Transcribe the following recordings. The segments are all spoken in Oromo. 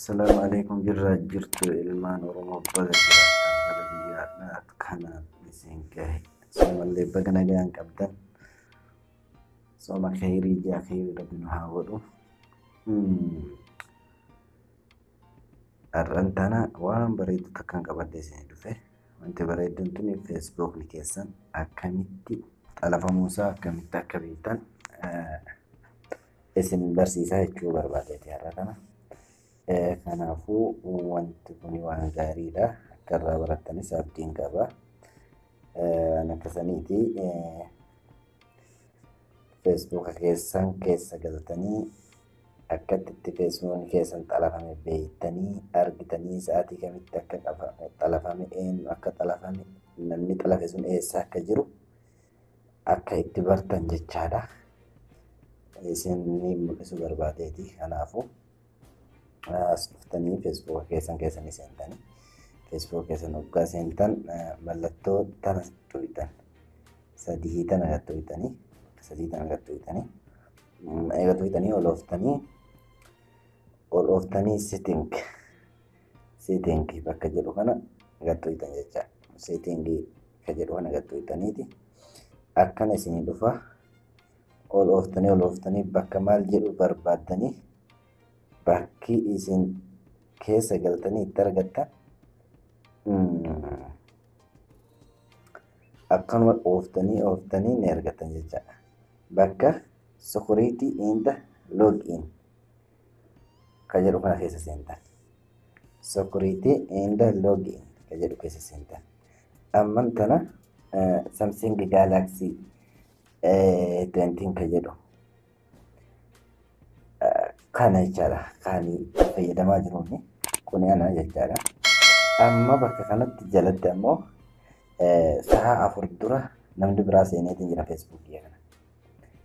Salaamu alaikum jirraa jirtu ilmaan Oromoo baga jiraattan bara guyyaadhaa kanaan isin gahe. Soomallee baga nagaan qabdan. Sooma kheyrii ji'a kheyrii rabbi nu haa godhu. Har'an tana waan bareedu takkaan qabadhee isin dhufe. Wanti bareedduun tuni feesbuukni keessan akkamitti xalafamuusaa akkamitti akka beektan isin barsiisaa jechuu barbaadeeti har'a kana. Eh, Kanaafuu wanti kun waan gaariidha. Akka irraa barattanis abdiin qaba. Eh, Ani akka saniiti eh, feesbuuka keessan keessa galtanii akkatti itti feesbuukni keessan xalafame beektanii argitanii sa'aatii kamitti akka qafa- xalafame eenyu akka xalafame namni xalafe sun eessa akka jiru akka itti bartan jechaadha. Isin ni mul'isuu barbaadeeti. Kanaafuu as dhuftanii feesbuuka keessan keessanii seentanii feesbuuka keessan hoggaa seentan mallattoo tana tuqxan sadii tana gad tuqxanii sadii tana gad tuqxanii eega tuqxanii ol ooftanii ol ooftanii sitting sitting bakka jedhu kana gad tuqxan jechaadha. Sitting ka jedhu kana gattuutaniiti akkana isinii dhufa ol ooftanii ol ooftanii bakka maal jedhu barbaaddanii bakki isin keessa galtanii itti argattan akkanuma ooftanii ooftanii ni argattan jechaadha bakka sukuriitii inda log in ka jedhu kana keessa seentan. Security and login ka jedhu keessa seentan. Amman tana Samsung Galaxy 20 ka jedhu kana jechaadha kan fayyadamaa jiruun kun ana jechaadha. Amma bakka kanatti jalatti ammoo sa'a afur dura namni biraa seeneetiin jira feesbuukii kana.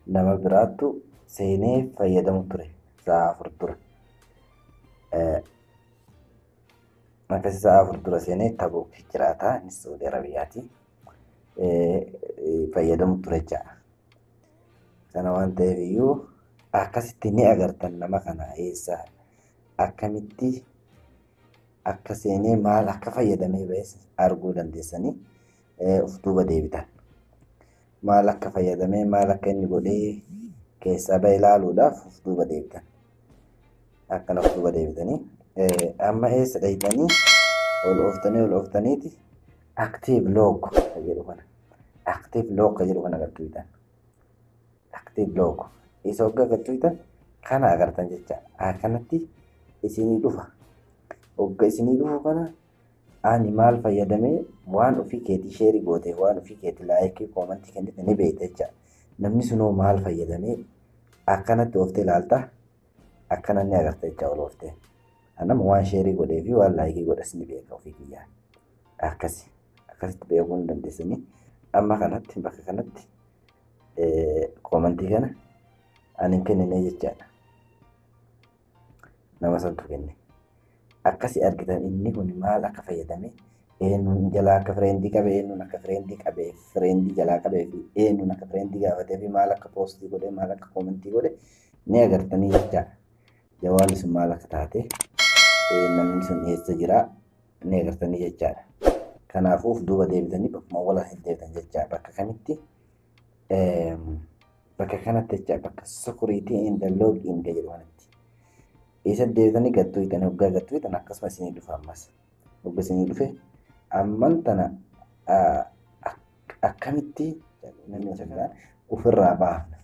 nama biraattu seenee fayyadamu ture sa'a afur dura. Akkasi sa'a afur dura seenee Tabuk jiraata innis Saudi Arabiyaati. Fayyadamu ture ja'a. Sana waan ta'eef iyyuu akkasitti ni agartan nama kana eessa akkamitti akka seenee maal akka fayyadamee ba'es arguu dandeessanii of duuba deebitan. maal akka fayyadamee maal akka inni godhee keessaa ba'e ilaaluudhaaf of duuba deebitan. Akkana of duuba deebitanii amma eessa dhayxanii ol ooftanii ol ooftaniiti active log ka jedhu kana active log ka jedhu kana agartuutan. Active log isa hoggaa agartuutan kana agartan jecha akkanatti isinii dhufa. Hogga isinii dhufu kana Ani maal fayyadame waan ofii keetii sheerii goote waan ofii keetii laayikii koomantii kennite ni beekta jecha namni sunoo maal fayyadame akkanatti ooftee ilaalta akkana ni agarta jecha ol ooftee anama waan sheerii godhee fi waan laayikii godhes ni beeka ofii kiyyaa akkasi akkasitti beekuu ni dandeessanii amma kanatti bakka kanatti koomantii kana ani hin kennine jechaadha. nama santu kenne. Akkasi argitan inni kun maal akka fayyadame eenyuun jalaa akka fireendii qabe eenyuun akka fireendii qabe fireendii jalaa qabee fi eenyuun akka fireendii gaafatee fi maal akka poostii godhe maal akka koomentii godhe ni agartanii jecha jawaarri sun maal akka taate namni sun eessa jira ni agartanii jechaadha. Kanaafuu of duuba deebitanii bakkuma wala hin deebitan jecha bakka kamitti bakka kanatti jecha bakka sukuriitii inda loog inda jedhu kanatti. Isa deebitanii gattuu hitan hoggaa gattuu hitan akkasuma isinii dhufa ammas. Hogga isinii dhufe amman tana akkamitti ofirraa baafna.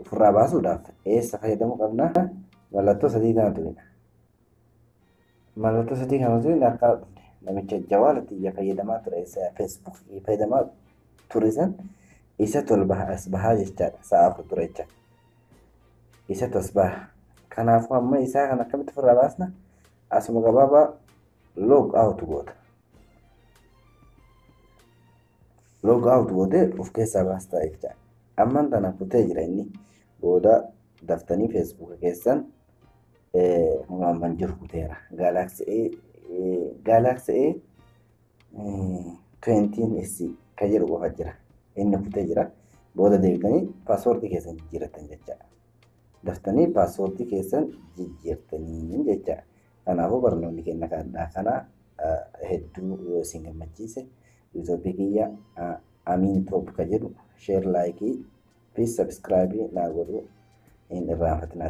Ofirraa baasuudhaaf eessa fayyadamuu qabna? Mallattoo sadii kana tuqina. Mallattoo sadii kana osoo hin akka dhufne namicha jawaala xiyya fayyadamaa ture isa Facebook fayyadamaa ture san isa tolba as bahaa jechaadha sa'a afur ture jecha isa tas baha kanaafuu amma isaa kan akkamitti ofirraa baasna asuma gabaabaa log out goota log out gootee of keessaa baastaa jecha amman tana kutee jira inni booda daftanii Facebook keessan Maamman jiru kuteera. Galaxy A Galaxy A 20 SC kan jedhu qofa jira. Inni kutee jira. Booda deebitanii paaswoordii keessan jijjiirrattan jechaadha. Daftanii paaswoordii keessan jijjiirtanii jechaadha. Kanaafuu barnoonni keenya kanaa kana hedduu yoo isin gammachiise yuutuubii kiyya Amiin Toob kan jedhu sheer laayikii piis sabiskiraayibii naa godhuu hin irraanfatinaa.